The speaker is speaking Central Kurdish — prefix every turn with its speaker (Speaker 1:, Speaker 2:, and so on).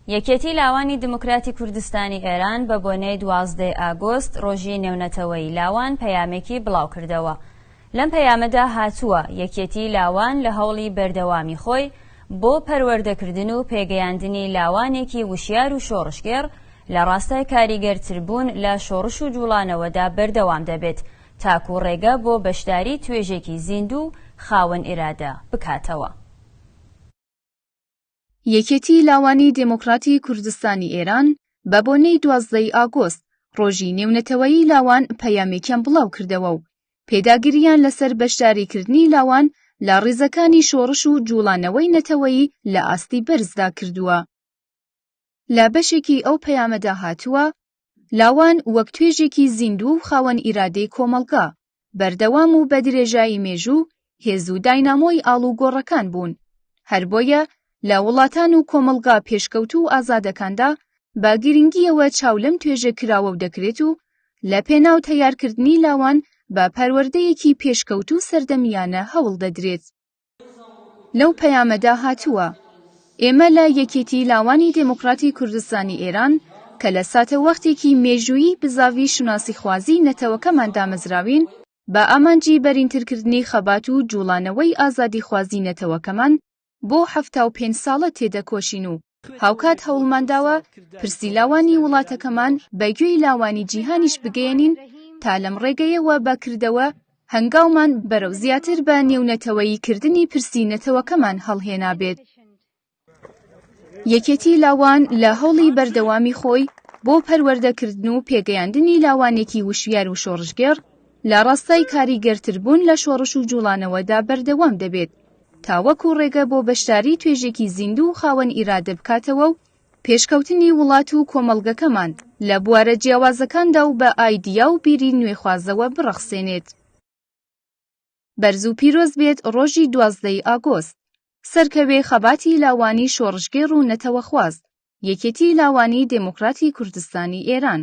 Speaker 1: یەکێتی لاوانی دیموکراتی کوردستانی ئێران بە بۆنەی دوازدەی ئاگۆست ڕۆژی نێونەتەوەیی لاوان پەیامێکی بڵاو کردەوە. لەم پەیامەدا هاتووە، یەکێتی لاوان لە هەوڵی بەردەوامی خۆی بۆ پەروەردەکردن و پێگەیاندنی لاوانێکی وشیار و شۆڕشگێڕ لە ڕاستای کاریگەرتربوون لە شۆڕش و جووڵانەوەدا بەردەوام دەبێت تاکوو ڕێگە بۆ بەشداری توێژێکی زیندوو و خاوەن ئیرادە بکاتەوە.
Speaker 2: یەکێتی لاوانی دێموکڕاتی کوردستانی ئێران بە بۆنەی دوازدەی ئاگۆست ڕۆژی نێونەتەوەیی لاوان پەیامێکیان بڵاو کردەوە و پێداگرییان لەسەر بەشداریکردنی لاوان لە ڕیزەکانی شۆڕش و جووڵانەوەی نەتەوەیی لە ئاستی بەرزدا کردووە. لە بەشێکی ئەو پەیامەدا هاتووە، لاوان وەک توێژێکی زیندوو و خاوەن ئیرادەی کۆمەڵگا، بەردەوام و بە درێژایی مێژوو هێز و داینامۆی ئاڵوگۆڕەکان بوون، هەر بۆیە لە وڵاتان و کۆمەڵگا پێشکەوتوو و ئازادەکاندا بە گرنگییەوە چاو لەم توێژە کراوەو دەکرێت و لە پێناو تەیارکردنی لاوان بە پەروەردەیەکی پێشکەوتوو سەردەمییانە هەوڵ دەدرێت. لەو پەیامەدا هاتووە، ئێمە لە یەکێتی لاوانی دێموکڕاتی کوردستانی ئێران کە لە ساتەوەختێکی مێژوویی بزاڤی شوناسیخوازیی نەتەوەکەمان دامەزراوین، بە ئامانجی بەرینترکردنی خەبات و جووڵانەوەی ئازادیخوازیی نەتەوەکەمان بۆ حەفتا و پێنج ساڵە تێدەکۆشین و هاوکات هەوڵمانداوە پرسی لاوانی وڵاتەکەمان بە گوێی لاوانی جیهانیش بگەیەنین تا لەم ڕێگەیەوە بەکردەوە هەنگاومان بەرەو زیاتر بە نێونەتەوەیی کردنی پرسی نەتەوەکەمان هەڵهێنابێت. یەکێتی لاوان لە هەوڵی بەردەوامی خۆی بۆ پەروەردەکردن و پێگەیاندنی لاوانێکی وشیار و شۆڕشگێڕ لە ڕاستای کاریگەرتربوون لە شۆڕش و جوڵانەوەدا بەردەوام دەبێت تاوەکو ڕێگە بۆ بەشداری توێژێکی زیندوو و خاوەن ئیرادە بکاتەوە و پێشکەوتنی وڵات و کۆمەڵگەکەمان لە بوارە جیاوازەکاندا و بە ئایدیا و بیری نوێخوازەوە بڕەخسێنێت. بەرز و پیرۆز بێت ڕۆژی دوازدە ی ئاگۆست. سەرکەوێ خەباتی لاوانی شۆڕشگێڕ و نەتەوەخواز، یەکێتی لاوانی دێموکراتی کوردستانی ئێران.